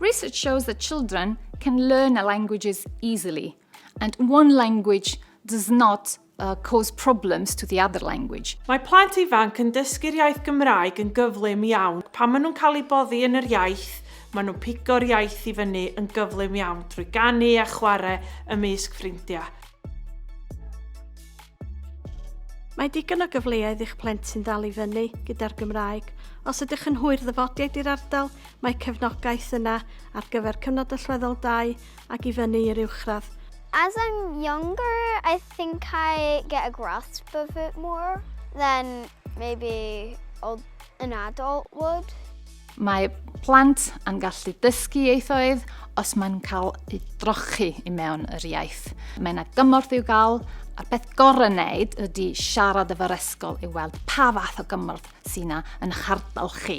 Research shows that children can learn languages easily, and one language does not uh, cause problems to the other language. Mae plant ifanc yn dysgu'r iaith Gymraeg yn gyflym iawn. Pan maen nhw'n cael eu boddi yn yr iaith, maen nhw'n pigo'r iaith i fyny yn gyflym iawn drwy ganu a chwarae ymysg ffrindiau. Mae digon o gyfleoedd i'ch plentyn ddal i fyny gyda'r Gymraeg. Os ydych yn hwyr ddyfodiaid i'r ardal, mae cefnogaeth yna ar gyfer cyfnod allweddol 2 ac i fyny i'r uwchradd. As I'm younger, I think I get a grasp of it more than maybe an adult would. Mae plant yn gallu dysgu ieithoedd os mae'n cael ei drochi i mewn yr iaith. Mae yna gymorth i'w gael, a'r peth gorau wneud ydy siarad efo'r ysgol i weld pa fath o gymorth sy'n yna yn eich ardal chi.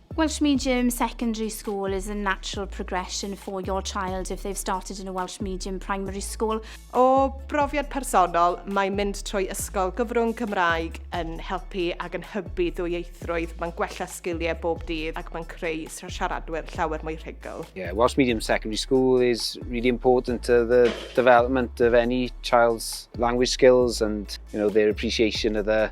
Welsh Medium Secondary School is a natural progression for your child if they've started in a Welsh Medium Primary School. O brofiad personol, mae mynd trwy ysgol gyfrwng Cymraeg yn helpu ac yn hybu ddwyieithrwydd, mae'n gwella sgiliau bob dydd ac mae'n creu siaradwyr llawer mwy rhugl. Yeah, Welsh Medium Secondary School is really important to the development of any child's language skills and you know their appreciation of the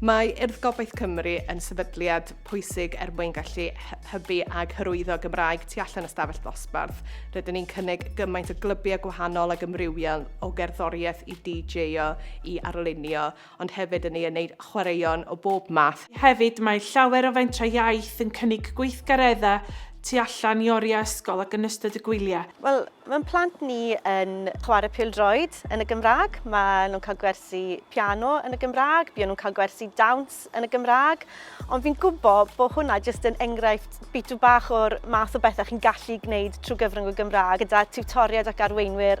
Mae Urdd Gobaith Cymru yn sefydliad pwysig er mwyn gallu hybu ac hyrwyddo Gymraeg tu allan y stafell ddosbarth. Rydyn ni'n cynnig gymaint o glybiau gwahanol ac ymrywiol o gerddoriaeth i DJ-o i arlunio, ond hefyd yn ei wneud chwaraeon o bob math Hefyd, mae llawer o fentrau iaith yn cynnig gweithgareddau tu allan i oriau ysgol ac yn ystod y gwyliau. Wel, mae'n plant ni yn chwarae pêl-droed yn y Gymraeg, maen nhw'n cael gwersi piano yn y Gymraeg, buon nhw'n cael gwersi dawns yn y Gymraeg, ond fi'n gwybod bod hwnna jyst yn enghraifft bitw bach o'r math o bethau chi'n gallu gwneud trwy gyfrwng y Gymraeg gyda tiwtoriaid ac arweinwyr